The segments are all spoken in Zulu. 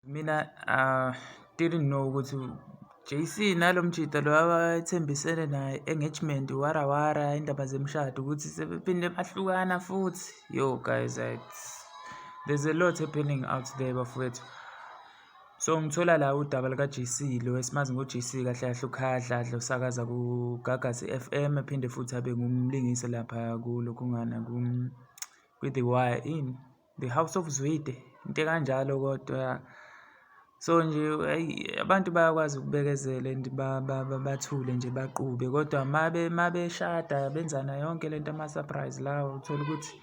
Mina uh, didn't know ukuthi JC nalo mjita lo abathembisene naye engagement wara wara indaba zemshado ukuthi sebephinde bahlukana futhi yo guys it's, there's a lot happening out there bafowethu so ngithola la udaba lika-JC lo esimazi ngo-JC kahle kahle ukhadladla usakaza kugagasi FM ephinde futhi abe ngumlingisi lapha kulokhungana kwi-the wire ini The House of Zwide, into ekanjalo kodwa ya. So nje ayi abantu bayakwazi ukubekezela and bathule nje baqube kodwa mabe mabeshada benzana yonke le nto ama-surprise lawo uthola ukuthi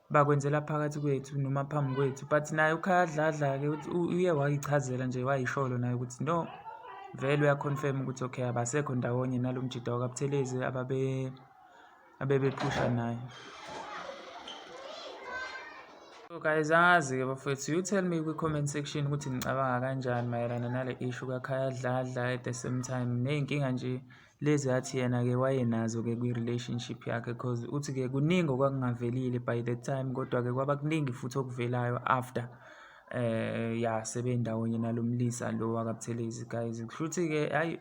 bakwenzela phakathi kwethu noma phambi kwethu but naye ukhayadladla-ke uye wayichazela nje wayisholo naye ukuthi no vele uyakhonfirma ukuthi okay abasekho ndawonye nalo mjida wakabuthelezi ababe abebephusha naye so guys angazi-ke bafowethu you tell me kwi-comment section ukuthi nicabanga kanjani mayelana nale issue kakhaya dladla at the same time ney'nkinga nje lezi athi yena-ke wayenazo-ke kwi-relationship yakhe cause uthi-ke kuningi okwakungavelile by the time kodwa-ke kwaba kuningi futhi okuvelayo after eh ya sebendawonye nalomlisa lo wakabuthelezi guys kushuthi-ke hayi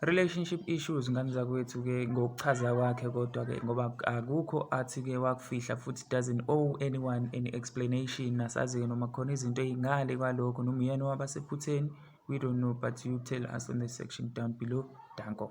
Relationship issues ngane zakwethu-ke ngokuchaza kwakhe kodwa-ke ngoba akukho athi-ke wakufihla futhi doesn't owe anyone any explanation nasazi-ke noma khona izinto ey'ngale kwalokho noma uyena owaba sephutheni we don't know but you tell us on the section down below danko